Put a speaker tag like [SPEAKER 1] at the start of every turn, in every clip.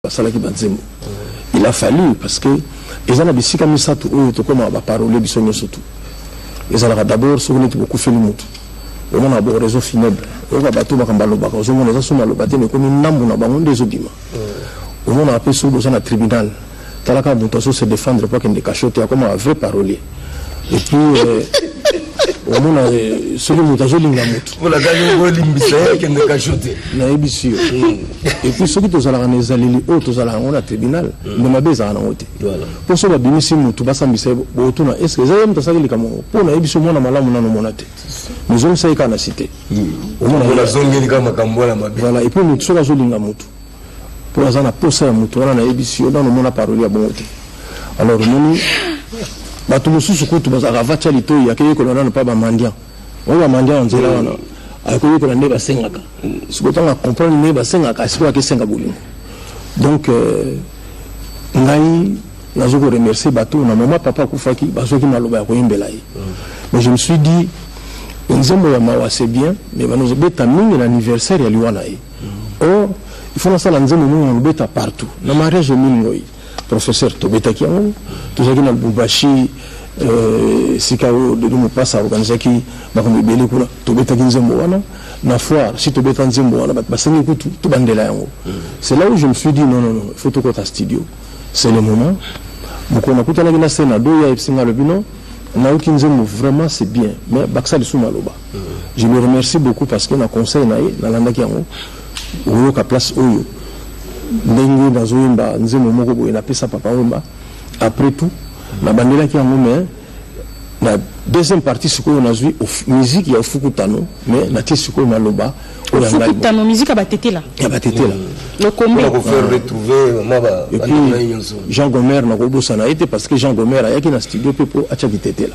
[SPEAKER 1] basalaki banzembo il a fallu parce que eza na bisika misato oyo tokomaka baparole biso nyonso tu ezalaka d'abord soki neti bokufeli motu omona bo réseau funèbre oyoka bato makambo alobaka ozomona eza soki maloba te mekomi ndambo na bango nde ezobima omonaka mpe soki boza na tribunal Tala kaka mutu azo se defendre po akende cachot te akoma vrai parolier et puis euh, omona euh, soki moto azolinga moto
[SPEAKER 2] nayebisi yo
[SPEAKER 1] et puis soki tozalaka na ezaleli oyo tozalaka yango na tribunal nde mm. mabe ezalaka nango te mpo so babimisi motu basambisa ye botuna est ce que eza ye moto asaki likambo yango mpo nayebisi yo mwana malamu nano omona te mezongisaki kaka na site mm.
[SPEAKER 2] omona voilà et puis motu soki azolinga
[SPEAKER 1] motu po naza na posa ya moto wana nayebisi yo nano omona paroli ya bongo te alors omoni bato mosusu kutu bazalaka vatia litoi akeyekola nano mpa bamandian oyo bamandian ya nzela wana akoyekola nde basengaka sikoyo ntango acomprendre nde basengaka sikoyo akesenga bolingo donc euh, ngai nazo ko remercier bato na mama papa akufaki bazwaki maloba ya koyembela ye mais je me suis dit nzembo ya mawa c'est bien mais banozobeta mingi na anniversaire ya liwa na ye oh il faut nasala nzembo moko na lobeta partout na mariage emile ngoi professeur tobetaki yango tozalaki na lubumbashi euh, esika oyo dedo mopasa aorganisaki makambo ebele kuna tobetaki nzembo wana na foire si tobeta nzembo wana bato basengi kutu tobandela yango mm. c'est là où je me suis dit non non non il faut tokota studio c'est le moment mokolo nakutanaki na senado ye ayebisi ngai alobi non nauki nzembo vraiment c'est bien mais bakisa lisusu maloba Je le remercie beaucoup parce que na conseil na ye nalandaki yango oyoka place oyo ndenge nazoyemba nzembo moko boye napesa papa wemba après tout nabandelaki yango mais na deuxième partie sikoyo nazwi musique ya ofukutano mais natie sikoyo maloba ofukutano musique ya
[SPEAKER 3] batetela ya batetela lokombeepuis
[SPEAKER 1] jean gomer nakobosana ye te parce que jean gomer ayaki na studio mpe mpo atyaki tetela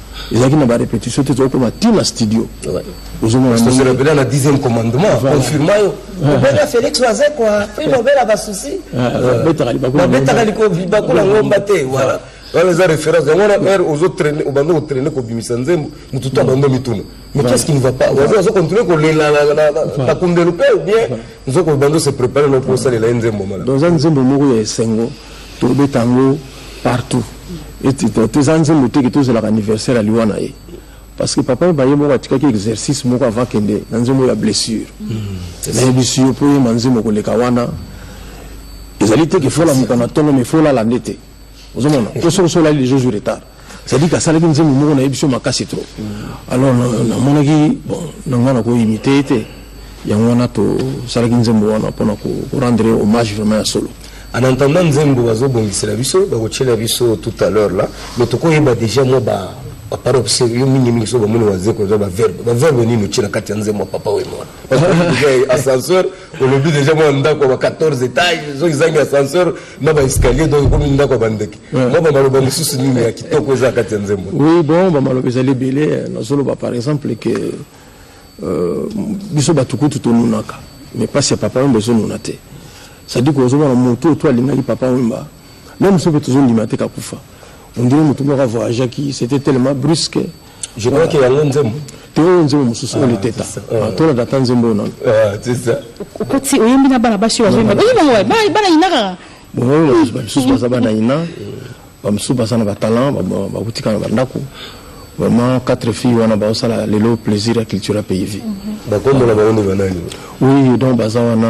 [SPEAKER 1] ezalaki na ba repetition te tokoma ti na studio ozomona
[SPEAKER 2] pena na 10e commandement confirma yo obela felix
[SPEAKER 4] waze kwa prime obela basusi babetaka
[SPEAKER 2] libakola ngomba te voilà wana eza référence yango wana heure ozo traine obanda kotraine kobimisa nzembo motu to abanda mituna mais qu'est ce qui ne va pas waze azo continue kolela na kundelo mpe bien nzoko obanda se prépare na mpo osalela ye nzembo mala donc eza nzembo moko ya
[SPEAKER 1] esengo tobeta yango partout toza nzembo teke tozalaka anniversaire ya liwa na ye parce que papa baye moko atikaki exercice moko avant kende na nzembo ya blessure hmm, nayebisi yo mpo oyemba nzembo koleka wana ezali te ke fola mokana ntongo me folala nde te ozomona mpo soki osolali les jours retard c'est-à-dire asalaki nzembo moko nayebi yo makasi trop alors namonaki bon na ngai nakoimite ye te yango wana tosalaki nzembo wana mpona korendre hommage vraiment ya solo En entendant nzembo
[SPEAKER 2] bazo bongisela biso bakotiela biso tout à l'heure là mais tokoyeba déjà mwa ba baparobe se yo mingi mingi so bamoni wazeko eza baverbe baverbe nini otie na kati ya nzembo ya papa wemona ascenseur olobi deja mwa ndako ya ba 14 étage soki ezangi ascenseur na baescalier donc ekomi ndako ya bandeke mwa bamaloba mosusu nini ya kitoko eza na kati ya nzembo oui bon bamaloba
[SPEAKER 1] ezali ebele nazoloba par exemple ke Euh, biso bato kutu tonunaka mais mpasi ya papa wemba ezonuna te sadiko ozomona moto oyo to alingaki papa wemba meme soki tozondima te kakufa ondire motu moko avoyageaki c'était tellement brusque je crois que yango
[SPEAKER 2] nzembo te oyo nzembo
[SPEAKER 1] mosusu oyo liteta tolanda ata nzembo oyo nano
[SPEAKER 2] okoti oyembi
[SPEAKER 3] na bana basi oyo bazoyemba oyemba bana yinaka
[SPEAKER 1] bamisusu baza bana ina bamisusu baza na batalant bakutika na bandako vraiment quatre filles wana baosala lelo plaisir ya culture ya pays vie mhm. bakombo na bango nde
[SPEAKER 2] banani oui donc baza
[SPEAKER 1] wana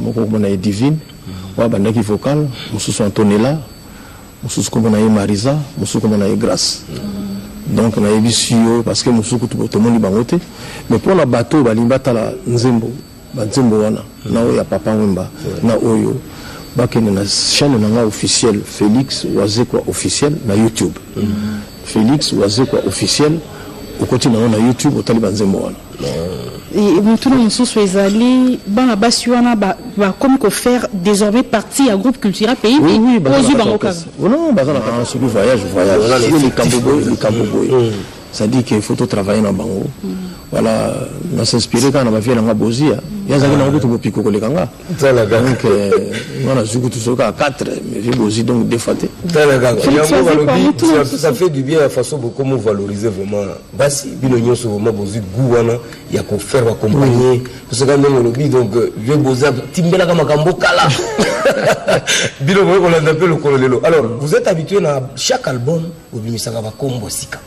[SPEAKER 1] moko kombo na ye divine oyo abandaki vocal mosusu antonella mosusu kombo na ye marisa mosusu kombo na ye grace mhm. donc nayebisi yo parce que mosusu kutu tomoni bango te mais mpo na bato balingi batala nzembo ba nzembo wana na oyo ya papa wemba na oyo bakende na chaîne na nga officiel Felix Wazekwa officiel na YouTube Felix Wazekwa officiel okoti na yo na YouTube otali ba nzembo wana Et
[SPEAKER 3] motuna mosusu ezali bana basi wana ba- bakomi kofaire désormais partie ya groupe culturel pays Oui, oui, baza ozwi na bango
[SPEAKER 1] kaka kaka.
[SPEAKER 3] Non, baza na kaka soki
[SPEAKER 1] voyage voyage Voilà le soki fait. likambo boye likambo boye ça dit que faut to travailler na bango voilà na s'inspirer kaka na ba vie na nga bozia ya zaki na kutu bopiko ko leka nga tala kaka donc nga na zuku tu soka 4 mais vie bozi donc des fois te tala kaka ya mo balobi
[SPEAKER 2] ça fait du bien la façon beaucoup mo valoriser vraiment basi bino nyoso vraiment bozi goût wana ya ko faire accompagner parce que ndenge lobi donc vie boza timbela kama kambo kala bino ko landa pe lokolo lelo alors vous êtes habitué na chaque album obimisaka bakombo sika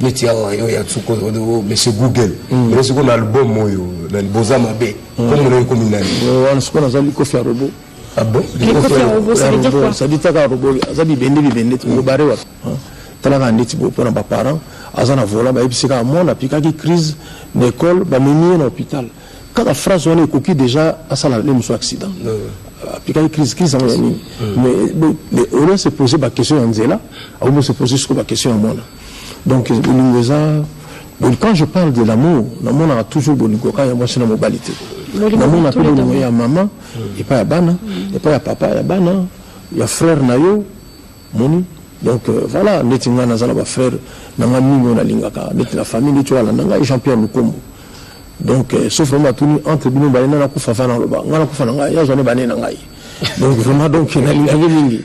[SPEAKER 2] neti awa yo ya nsuku oyo oh, oh, monsieur google mm. ene sikoyo na album oyo na liboza mabe mm. kombo na ekomi nani wana sikoyo naza likofi
[SPEAKER 1] ya robo
[SPEAKER 3] sadi taka robo
[SPEAKER 1] aza bibende bibende tobare mm. wapi talaka ndeti boye mpo na baparent aza na vola bayebisi kaka mwana apikaki crise na ekole bamemi ye na hôpital kaka phrase wana ekoki deja asala nde mosusu accident aplikaki crise crise yango ya nini mais au lieu se poser baquestion ya nzela akomi se poser siko baquestion ya mwana donc bolingo eza quand je parle de l'amour namonaka toujours bolingo kaka ya mwasi na mobali te namona mpe bolingo ya mama epai ya bana epai ya papa ya bana ya frère na yo Omoni? Donc voila ndeti nga naza na ba frère na nga mingi oyo nalingaka ndeti na famille ndeti oyo alanda ngai Jean Pierre Lukombo donc euh, sauf vraiment atuni entre bino mibale nani akufa va naloba ngai nakufa na ngai yazwa nde bane na ngai donc vraiment donc nalingaki mingi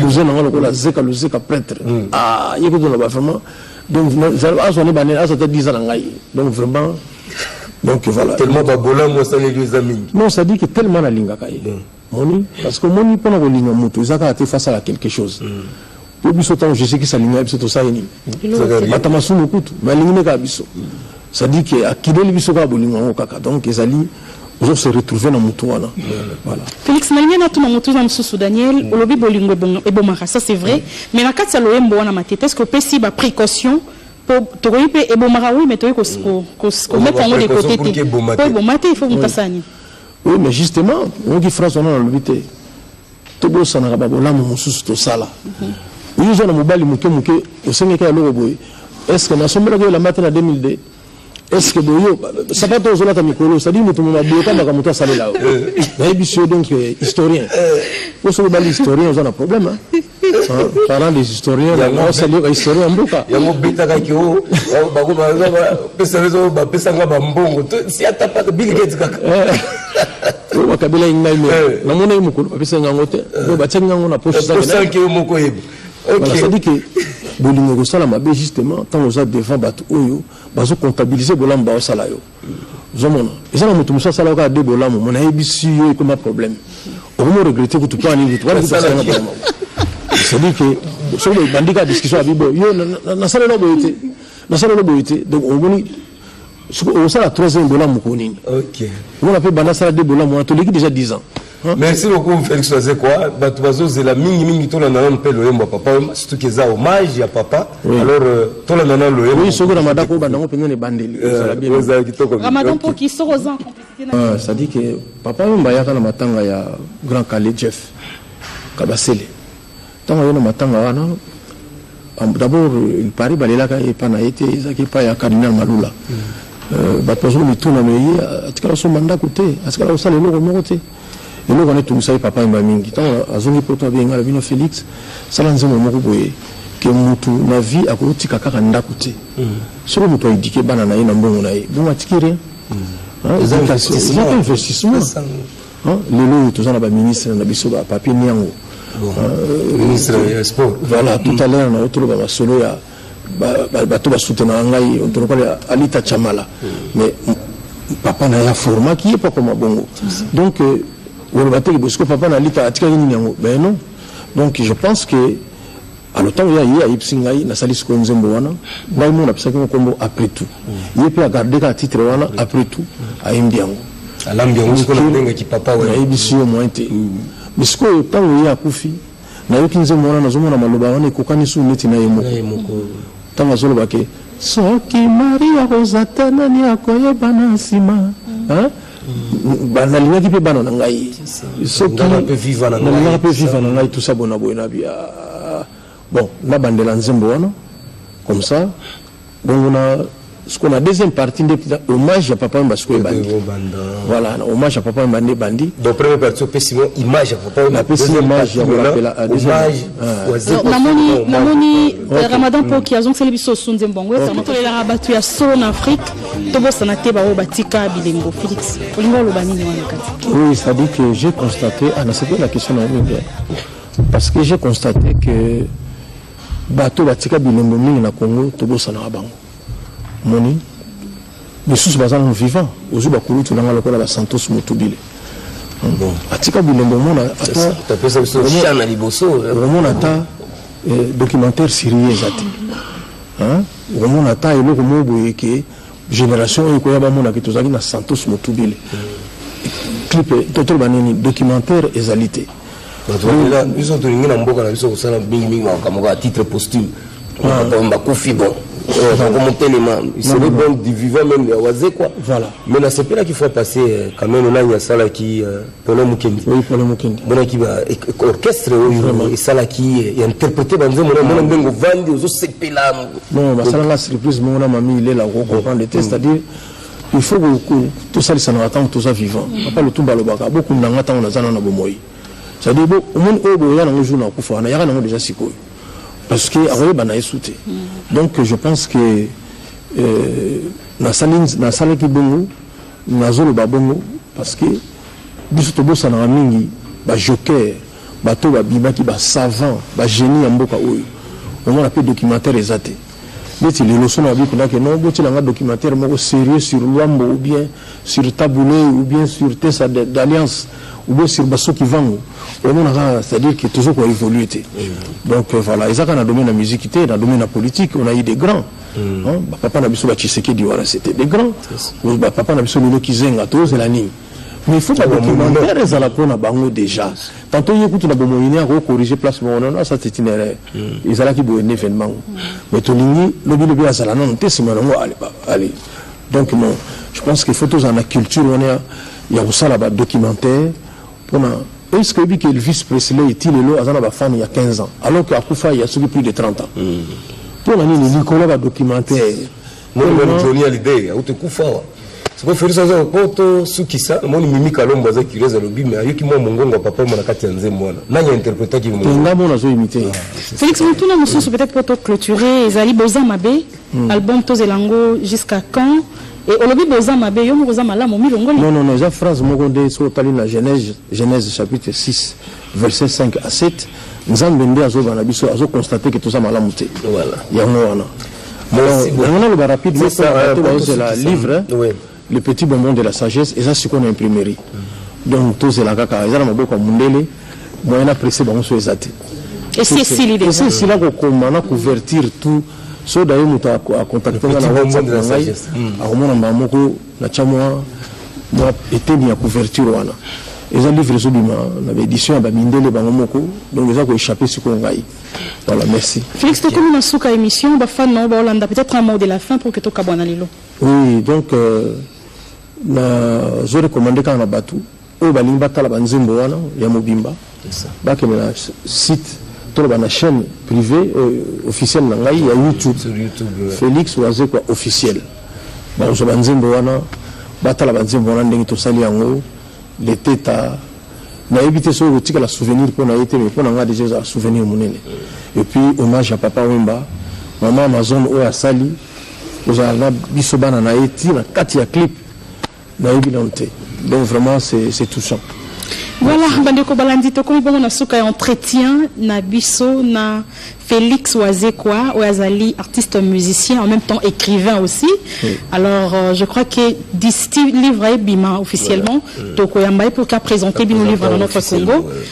[SPEAKER 1] cousin na ngai lokola zeka luzeka prêtre hmm. ah, ye kutu naloba vraiment donc azwa nde bane azwa ata 10 ans na ngai donc vraiment donc voilà tellement babolamu
[SPEAKER 2] asaleli eza mingi non ça dit que tellement
[SPEAKER 1] nalingaka ye hmm. Omoni? Parce que omoni pona kolinga mutu eza kaka te faut asala quelque chose. Po biso tango Jesus Christ alingaki biso tosali nini? Eloko te. Bata masumu kutu mais alingi nde kaka biso. C'est à dire que akileli biso kaka bolingo yango kaka donc ezali ozo se retrouver na mutu wana. Voilà. Felix nalingi natuna
[SPEAKER 3] motuna mosusu Daniel olobi bolingo ebonga- ebomaka ça c'est vrai mais na kati ya loyembo wana matete est-ce que opesi ba précaution po tokoki mpe ebomaka oui mais tokoki kos- ko- kos- komettre yango de Précaution côté pour te que eboma po te. eboma te il faut moto asala nini Oui mais
[SPEAKER 1] justement oyoki phrase wana nalobi te tobosanaka babolamu mosusu tosala oyo oza na mobali moke moke osengeki eloko boye estce nasombelaki yo elamba te na 2002 estce boyo sapato ozolata mikolo cetadi moto moma boyokamaka moto asalela yo nayebisi yo donc eh, historien oso obali historien oza na problème parents des historiens yango osali ba historien mboka yango betaka ke o
[SPEAKER 2] bako ba pesa rezo ba pesa nga ba mbongo si ata pas Bill Gates
[SPEAKER 1] kaka o ba kabila ngai me na mona mukulu ba pesa ngango te do ba tsenga ngango na poche sa poche ke moko
[SPEAKER 2] yebi okay ça dit que
[SPEAKER 1] bolingo kosala mabe justement ntango oza devant bato oyo bazocomptabilise bolamu baosala yo ozomona eza na moto mosusu asalaka kaka de bolamu mona ayebisi yo ekoma problème okomi oregrete kutu mpo ani kutu wana kutu asalaka problème c'est-à-dire que soki obandi kaka discussion ya bibo yo nasalela boye te nasalela boye te donc omoni osala troisième bolamu ko nini omona mpe
[SPEAKER 2] banda asala
[SPEAKER 1] de bolamu wana toleki déjà 10 ans merci beaucoup
[SPEAKER 2] felix wazekwa bato bazozela mingi mingi tolanda nano mpe loyembo ya papa oyemba surtout ke eza hommage ya papa oui. alors euh, tolanda nano loyembo oui, soki ramadan ko banda
[SPEAKER 1] ngo
[SPEAKER 2] mpenza
[SPEAKER 1] na ebandeli euh, ozala kitoko
[SPEAKER 3] ramadan mpo kisoko oza ah, c'est-à-dire ke
[SPEAKER 1] papa oyemba ayaka na matanga ya grand kale jeff kabasele Tango aye na matanga wana d'abord il parait balelaka ye epa na ye te ezalaki epai ya cardinal malula euh, bato bazoko mituna me ye atikala kosomba ndako te atikala kosala eloko moko te eloko wana etungisa ye papa yemba mingi ntango azongi poto abenga na bino félix sala nzembo moko boye ke mutu na vie akotika kaka ndako te mm. soki moto aedike bana na ye na mbongo na ye bongo atiki rien mm. eza investissement Lelo oyo toza na ba ministre na biso ba papier niango euh,
[SPEAKER 2] ministre ya sport voilà tout à l'heure na
[SPEAKER 1] otoloba ba solo ya bato ba soutenaka ngai otoloba ya Alita Chamala mm. mais papa na ya forma qui est pas comme bongo donc euh, woloba te que papa na Alita atikaki nini yango ben non donc je pense que Alors ntango ye aye ayebisi ngai nasali sikoyo nzembo wana ngai moko napesaki ngo nkombo après tout mm. ye mpe agarde kaka titre wana mm. après tout ayembi yango alambi yango sikoyo
[SPEAKER 2] nabengaki papa nayebisi yo moyen te mm.
[SPEAKER 1] mais sikoyo ntango ye akufi nayoki nzembo wana nazomona maloba wana ekokani su neti na ye moko ntango azoloba ke soki maria kozata nani akoyeba na nsima nalingaki mpe bana na ngai sokilingaka mpe viva na ngai tusa bona boye na bia ah, bon nabandela nzembo wana comme ça bongo na sikoyo na deuxième partie nde hommage ya papa wemba sikoyo ebandi voilà na hommage ya papa wemba nde ebandi donc première partie opesi
[SPEAKER 2] mo image ya papa wemba napesi image ya
[SPEAKER 1] kolapela namoni
[SPEAKER 3] ramadan poki azongiseli biso osunze mbongo esango tolelaka bato ya solo na afrique tobosana te baoyo batika bilembo félix olingi oloba nini wana kati oui ça dit que j'ai
[SPEAKER 1] constaté ah, nasepeli na question na yo mingi parce que j'ai constaté que bato batika bilembo mingi na congo tobosanaka bango moni misusu baza nano vivant ozwi bakulutu nanga lokola basantos motubile atika bilembo omona atamona
[SPEAKER 2] ata
[SPEAKER 1] eh, documentaire sirie eza te okomona ata eloko moko boye ke generation oyo ekoya bamona ke tozalaki na santos motubile clip totoloba nini documentaire ezali te
[SPEAKER 2] biso tolingi na mboka na biso kosala mingimingi makambo kaka titre posthume ah. bakufi bon yango motelema sele bon du vivant meme ya wazekwa mais nasepelaki fois passé kameno euh, nani asalaki euh, polo mukendi oui polo mukendi monaki ba orchestre oyo esalaki ya interpréter ba nzembo na mona mbengo vandi ozo sepela non basala la surprise mona mami il est là ko comprendre te c'est à dire il faut que tosalisana ntango toza vivant papa lutumba alobaka bokunda nga ntango naza nana bomoi c'est à dire omoni oyo boya nango jour nakufa nayaka nango déjà sikoyo parce que akoyeba na yesu te donc je pense que euh, nasalaki bongo Nazo loba bongo parce que biso tobosanaka mingi ba jokers bato ba bimaki ba savants ba genies ya mboka oyo omona pe documentaire eza te neti lelo sono abi kuna ke non botiela nga documentaire moko serieux sur Luambo ou bien sur Tabule ou bien sur Tesa d'Alliance ou bien sur Basso Kivangu omona kaka c'est-à-dire que tozo ko évoluer te donc euh, voilà eza kaka na domaine ya musique te na domaine ya politique on a eu des grands Mm. Hein? Ba papa na biso ba Tshisekedi wana c'était des grands. Ba papa na biso lelo kizenga to zela nini? mais il faut ba documentaire ezala pona bango déjà quand oye kutu na bomoyi ne ako corriger place moko non non ça c'est une erreur mm. ezalaki boye na événement mm. mais tolingi lobi lobi azala nano te nsima nango allez donc non je pense qu'il faut tozala na culture wana ya kosala badocumentaire Pona est ce que oyebi que Elvis Presley ti lelo aza na ba fans ya 15 ans alors que akufa ya soki plus de 30 ans. Pona nini likolo ba documentaire. Moni moni Johnny Hallyday auto kufa wa. Siko Felix aza poto sukisa moni Mimi Kalombo aza curieuse alobi mais ayoki mwa mongongo ya papa mwana kati ya nzembo wana. Nani interpreta ki mongongo? Tenga mona zo imiter.
[SPEAKER 1] Felix mutuna
[SPEAKER 3] mususu peut-être poto clôturer ezali boza mabe. Album tozela ngo jusqu'à quand? Et olobi boye oza mabe yo moko oza malamu omilongoli? Non non non eza phrase moko
[SPEAKER 1] nde soki otali na Genèse Genèse chapitre 6 verset 5 à 7 Nzambe nde azoba na biso azo constate que toza malamu te yango wana. Yango naloba rapidement po na bato bazozela livre. Le petit bonbon de la sagesse eza sikoyo na imprimerie donc tozela kaka eza na maboko ya mundele moyen na presse bango so eza te esi esili
[SPEAKER 3] deja esi esila kokoma na
[SPEAKER 1] couverture tout so daye moto akontakte nga na whatsapp na ngai akomona mbala moko natya mwa mwa eteni ya couverture wana eza livre ezobima na baédition ya bamindele bango moko donc eza koéchappe sikoyo ngai voilà merci félix tokomi na suka
[SPEAKER 3] émission bafan na yo baolanda peut-être un mot de la fin pour que tokabwana lelo Oui donc
[SPEAKER 1] euh, na zo recommande kaka na batu oyo balingi batala ba nzembo wana ya mobimba bakende na site toloba na chaîne privée euh, officielle na ngai ya YouTube Felix Wazekwa officiel bakozwa ba nzembo wana batala ba nzembo wana ndenge tosali yango leteta nayebi te soki okotikala souvenir mpo na ye te mais mpo na ngai deja ezala souvenir monene et puis hommage ya papa wemba mama amazone oyo asali Ozala na biso bana na ye ti na kati ya clip nayebi nanu te donc vraiment c'est touchant voilà
[SPEAKER 3] bandeko balandi tokomi bongo na suka ya entretien na biso na Félix Wazekwa, Ouazali, artiste musicien, en même temps écrivain aussi. Alors, euh, je crois que d'ici livre Bima officiellement, voilà. Tokoyambaye pour qu'a présenté Bino livre dans notre Congo.